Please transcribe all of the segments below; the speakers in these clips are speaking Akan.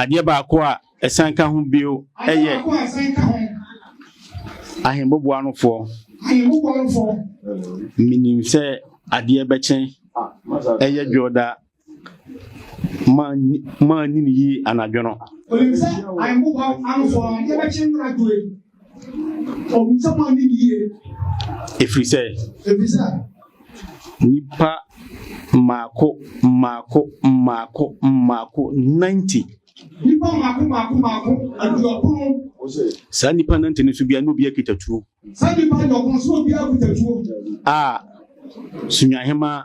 adeɛ baako a ɛsan ka ho bio yɛ ahemmɔboa nofoɔ menim sɛ adeɛ bɛkyɛn ɛyɛ dwoda maa nyini yie anadwo no Ɛfiri sɛ, nnipa mmaako mmaako mmaako mmaako 90. Saa nnipa 90 no so biara na obiara kita tuo. A, Sunyahema.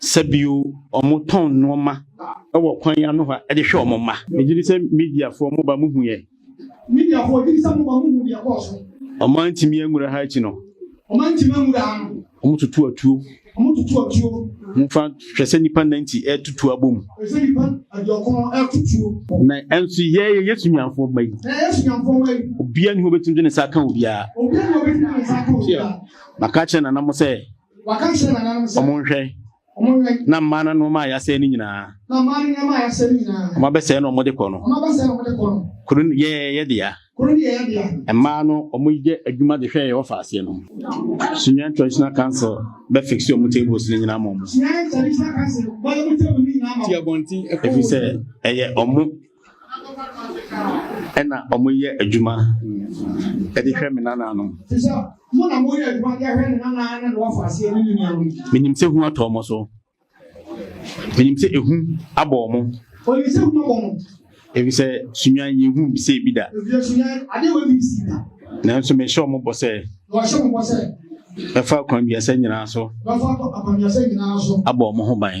Sɛ bio, wɔtɔn nnoɔma wɔ kwan yi ano hɔ de hwɛ wɔn mma. Megye di sɛ mediafoɔ mo ba mo hu yɛ. Mediafoɔ gye di sɛ mo ba mo hu deɛ ɛkɔɔ so. Wɔn antumi anwura ha akyi no. Wɔn antumi anwura ha no. Wɔn tutu atuo. Wɔn tutu atuo. Mo fa hwɛ sɛ nipa nnan ti ɛretu tuo abɔ mu. Hwɛ sɛ nipa aduɔkron ɛretu tuo. Na ɛnso yɛ yɛ Yesu nyanfoɔ mma yi. Na yɛ Yesu nyanfoɔ mma yi. Obiara ni hɔ obetumi de ne nsa aka obiara. Obiara ni hɔ obetumi de ne nsa aka obiara. Maka akyerɛ nana mo sɛ. Ɔmo nhwɛ na mmaa no nneɛma a yɛasɛe no nyinaa. Ɔmo abɛsɛe na ɔmo de kɔ no. Kuro no yɛ yɛ dea. Mmaa no ɔmo yɛ adwuma de hwɛ yɛ ɔfa aseɛ no. Sunyani traditional council bɛ fix ɔmo tables no nyinaa ma ɔmo. Efisɛ ɛyɛ ɔmo Ɛna ɔmo yɛ adwuma ɛde hwɛ me nananom. Menim sɛ hu atɔ ɔmo so. Menim sɛ ehu abɔ ɔmo. Efisɛ sunyan yɛ hu bisɛ ebi da. Nanso mehyɛ ɔmo bɔ sɛ. Mɛfa akwanduasa nyinaa so. Abɔ ɔmo ho ban.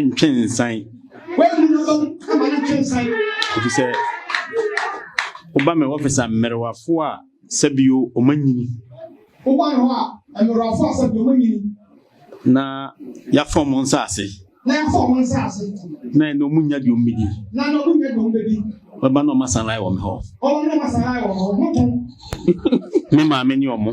ntwe nsan. Ɛfiri sɛ woba me wɔfis a mmerewafo a sɛbio ɔma nyini. Woba me hɔ a mmerewafo a sɛbio ɔma nyini. Na yɛafa ɔmo nsaase. Na yɛafa ɔmo nsaase. Na ɛna ɔmo nya deɛ ɔmo bɛdi. Na ɛna ɔmo nya deɛ ɔmo bɛdi. Wɔba na ɔmo asan ayɛ wɔ me hɔ. Ɔmo na ɔmo asan ayɛ wɔ me hɔ. Me maame ne ɔmo.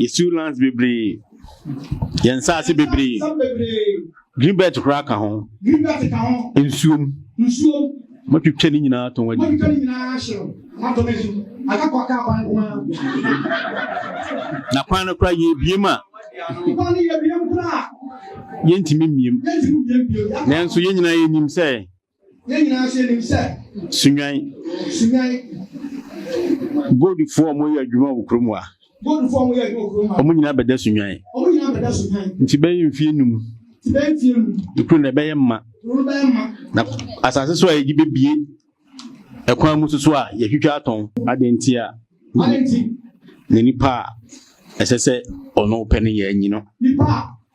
Yɛsiw lands bebree. Yɛn nsaase bebree. Green belt koraa ka ho. Nsuom. Matwitwa ne nyinaa tɔn adi. Na kwan no koraa yɛbiem a. Yɛntumi mmiem. Nanso yɛn nyinaa yɛnim sɛ. Yɛn nyinaa nso yɛnim sɛ. Sunwan. Sunwan. Goldfoɔ a wɔyɛ adwuma wɔ kurom a. Goldfoɔ a wɔyɛ adwuma wɔ kurom a. Wɔn nyinaa bɛda sunwan. Wɔn nyinaa bɛda sunwan. Nti bɛyɛ mfie num. Nti bɛyɛ mfie num. Ekuro na ɛbɛyɛ mma. Ekuro no bɛyɛ mma. Na asase so a yɛgye bebie ɛkwan mu soso a yɛtwitwa atɔn. Adeɛ nti a. Adeɛ nti. Na nipa a ɛsɛ sɛ ɔno pɛ no yɛ anyi no. Nipa a.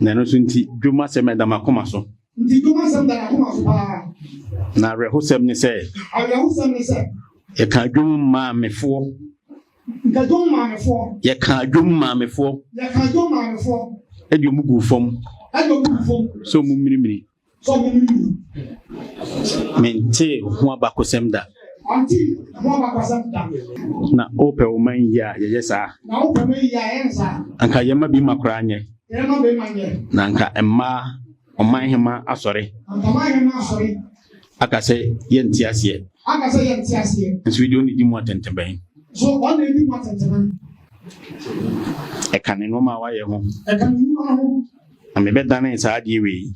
Na ɛno nso nti, dwom asɛm ɛda m'akoma so. Nti dwom asɛm da n'akoma so paa. Na awerɛhosɛm ne sɛ. Awerɛhosɛm ne sɛ. Yɛka dwom maamefoɔ. Nka dwom maamefoɔ. Yɛka dwom maamefoɔ. Yɛka dwom maamefoɔ. Ɛde ɔmo gu fam. Ɛde ɔmo gu fam. Sɛ ɔmo mmirimiri. So mo ni mu. Mentee ho abakɔsɛm da. Ɔnte ho abakɔsɛm da. Na wopɛ wo man yie a yɛyɛ saa. Na wopɛ man yie a yɛn saa. Anka yɛn ma bi ma koraa nyɛ. Yɛn ma bi ma nyɛ. Na anka mmaa ɔman hema asɔre. Anka ɔman hema asɔre. Aka sɛ yɛnte aseɛ. Aka sɛ yɛnte aseɛ. Nso yi deɛ ɔne di mu atɛntɛbɛn. So ɔne di mu atɛntɛbɛn. Ɛka ne nneɛma a wayɛ ho. Ɛka ne nneɛma ho. Na mebɛdanee saa adeɛ wei.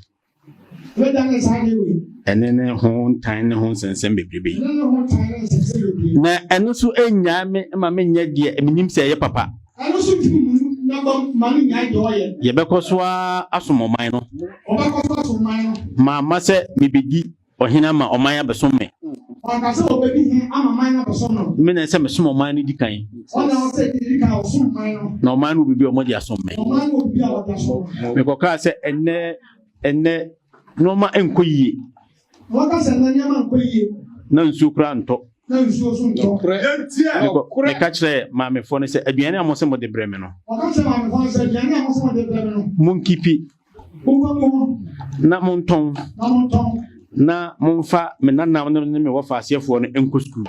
Mebɛdanee saa adeɛ wei. Ɛne ne ho ntan ne ho nsɛnsɛm bebrebe. Ɛne ne ho ntan ne nsɛnsɛm bebrebe. Na ɛno so nnyaa me ma menyɛ deɛ menim sɛ ɛyɛ papa. Ɛno so ntumi mu na bam ma no nyae deɛ ɔyɛ. Yɛbɛkɔ so ara asom ɔman no. Ɔbɛkɔ so asom ɔman no. Mamma sɛ mebɛdi Ɔhene ama ɔman abɛsom me. Ɔka sɛ ɔbɛdi hene ama man no abɛsom no. Me na ɛsɛ mesom ɔman no di kan. Ɔna ɔsɛ di kan ɔsom man no. Na ɔman no obibi a wɔde asom me. Ɔman no obibi a wɔde asom me. Mekɔkaa sɛ ɛnɛ ɛnɛ nneɛma nkɔ yie. Wɔka sɛ ɛnɛ nneɛma nkɔ yie. Na nsuo koraa ntɔ. Na nsuo so ntɔ. Meka kyerɛ maamefoɔ no sɛ aduane a mo sɛ mo de brɛ me no. Wɔka kyerɛ maamefoɔ no sɛ aduane a mo sɛ mo de brɛ me no. Monkipi na montɔn na momfa me nanam no ne me wɔfa aseɛfoɔ no nkɔ sukuu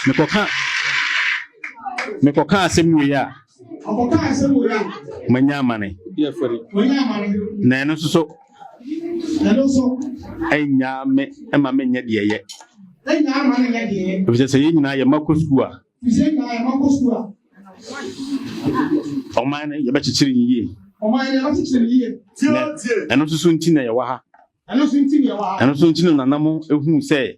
mekɔka mekɔka asɛm no yɛ a manya amane na ɛno nso so Ɛno nso. Ɛnyaa me ɛma me nyɛ deɛ yɛ. Ɛnyaa ma me nyɛ deɛ yɛ. Efisɛ sɛ yɛn nyinaa yɛ ma kɔ sukuu a. Efisɛ yɛn nyinaa yɛ ma kɔ sukuu a. Ɔman no yɛbɛkyekyere ne yie. Ɔman no yɛbɛkyekyere ne yie. Tie tie. Ɛno nso so nti na yɛwɔ ha. Ɛno nso nti na yɛwɔ ha. Ɛno nso nti na nananom ehu sɛ.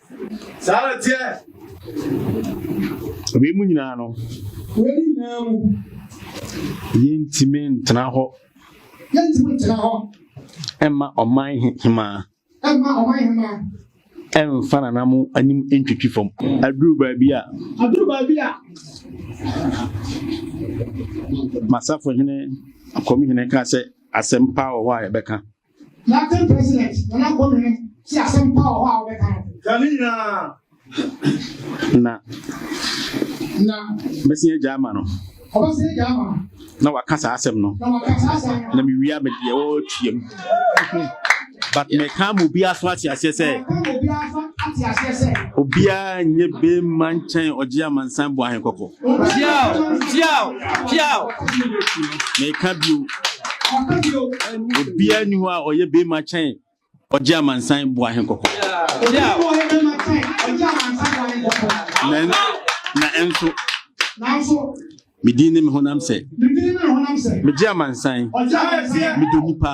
saa na teɛ wei mu nyinaa no wei nyinaa mu yɛntumi ntena hɔ yɛntumi ntena hɔ ɛmma ɔman hemaa ɛmma ɔman hemaa ɛmfa nana mo anim ntwitwi fam aduru baabi a aduru baabi a masafo hene akɔmi hene ka sɛ asɛmpa wɔ hɔ a yɛbɛka Acting President Nana Kwame no te asɛm pa wɔ hɔ a wɔbɛka no. Ka ne nyinaa. Na. Na. Bɛsɛn agya ama no. Ɔbɛsɛn agya ama no. Na waka saa asɛm no. Na waka saa asɛm no. Na mewia me deɛ wɔretua mu. But mɛka ma obiara so ate aseɛ sɛ. Obiara nyɛ bɛmma nkyɛn ɔgye amansan bɔ ahenkɔkɔ. Piaw! Piaw! Piaw! Meka bio. Obiara ni hɔ a ɔyɛ bɛrima kyɛn ɔgye amansan bu ahe kɔkɔ. Na ɛnso medin ne me honam sɛ megye amansan medɔ nipa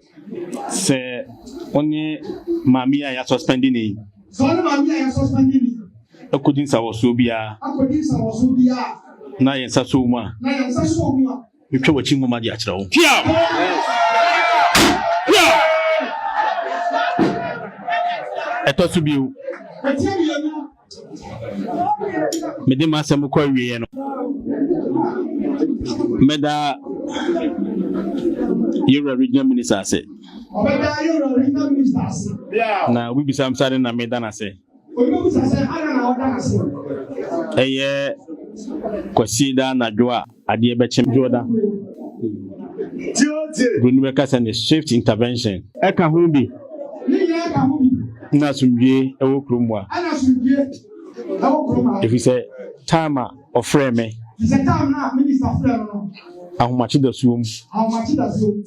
Sɛ wo ne maame a yɛasɔspɛnde ne yi. Sɛ wo ne maame a yɛasɔspɛnde ne yi. Akodi nsawɔsoɔ biara. Akodi nsawɔsoɔ biara. Na yɛn nsa sɔ wo mu a. Na yɛn nsa sɔ wo mu a. Metwa w'akyi nwoma de akyerɛ wo. Hia! Hia! Ɛtɔ so bio. Ɛtɔ so bio. mede m'asɛm kɔ awieɛ no mɛda yɛwura regional minister ase na wobisa m sade na meda no ase ɛyɛ kwasi da anadwo a Adeɛ bɛkye me. Dwoda. Buroni bɛka sɛ ne swift intervention. Ɛka ho bi. Ne nyinaa ɛka ho bi. Na asomdwie ɛwɔ kurom mu a. Ɛna asomdwie ɛwɔ kurom ha. Ɛfiri sɛ time a ɔfrɛɛ me. Ɛfiri sɛ time no a minister frɛɛ no no. Ahomakye da suom. Ahomakye da suom.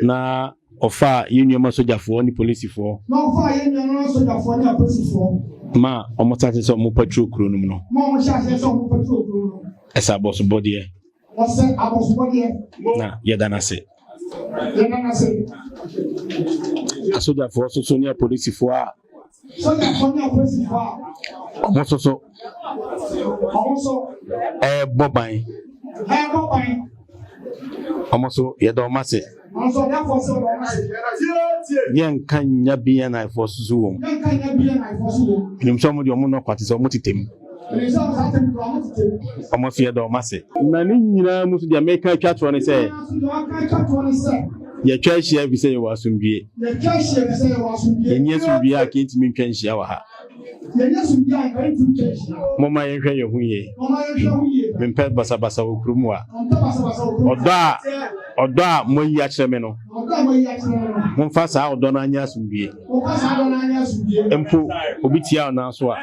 Na ɔfaa yɛn nuanom asogyafoɔ ne polisifoɔ. Na ɔfaa yɛn nuanom asogyafoɔ ne apolisifoɔ. Ma wɔhyɛ aseɛ sɛ wɔn patrol kuro no mu no. Ma wɔhyɛ aseɛ sɛ wɔn patrol kuro no mu. Ɛsɛ abɔsobɔdeɛ. Ɛsɛ abɔsobɔdeɛ. Na yɛda no ase. Yɛda no ase. Asogyafoɔ soso ne apolisifoɔ a. Sogyafoɔ ne apolisifoɔ a. Wɔn soso. Wɔn so. Ɛrebɔ ban. Ɛrebɔ ban. Wɔn so yɛda wɔn ase. yɛnka nya bnfoɔ soso wɔ nim sɛ ɔmode ɔmo nɔkwa te sɛ ɔmo tetɛm ɔmo fiɛ dɛ ɔmo ase na ne nyinaa mu so deɛ meka atwa toɔ ne sɛ yɛtwa ahyia fi sɛ yɛwɔ asomdwie yɛni asomdwie a kɛntumi ntwa nhyia wɔ ha Momma yɛnhwɛ yɛn ho yie. Mempɛ basabasa wɔ kurom a. Ɔdɔ a ɔdɔ a moayi akyerɛ me no, momfa saa ɔdɔ no anyɛ asomdwie. Mpo obi tia wo nan so a,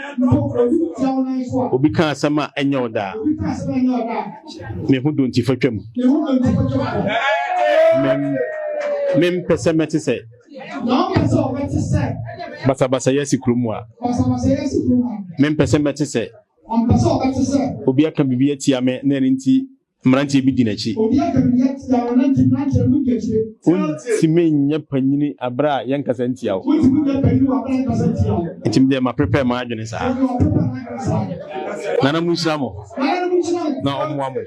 obi ka asɛm a ɛnyɛ wo daa. Me ho dɔ nti fa twam. Mempɛ sɛ mɛte sɛ Na ɔpɛ sɛ ɔbɛte sɛ. Basabasayɛ si kurom a. Basabasayɛ si kurom a. Mempɛ sɛ mɛte sɛ. Ɔmpɛ sɛ ɔbɛte sɛ. Obi aka biribi atia me na ɛno nti mmeranteɛ bi di n'akyi. Obi aka biribi atia me na nti mmeranteɛ bi di akyi. Wontumi nyɛ panyini abere a yɛnkasa ntia wo. Wontumi nyɛ panyini wɔ abere a yɛnkasa ntia wo. Nti me deɛ maprepare m'adwene saa. Nana mo nhyira mo. na ɔmmoa mo.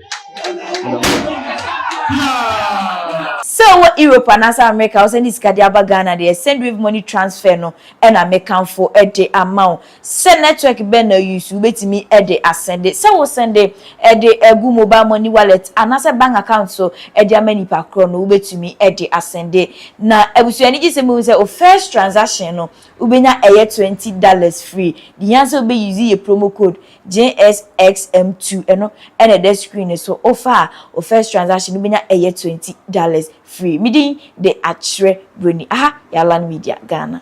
sɛ wɔ europe anaasɛ america a wosɛnde sika de aba ghana deɛ sendwave money transfer no ɛna mekamfo de ama wo sɛ network bɛn na use wobɛtumi de asɛnde sɛ wosɛnde de agu mobile money wallet anaasɛ bank account so de ama nipa korɔ no wobɛtumi de asɛnde na abusua ani gye sɛ mɛhu sɛ o first transaction no wobɛnya ɛyɛ twenty dollars free deɛ hia sɛ wobɛ use yɛ promo code JSXM2 ɛno na ɛda screen no so wofa a wo first transaction no bɛnya ɛyɛ twenty dollars free me din de Akyerɛ Broni aha yɛ Alan Media Ghana.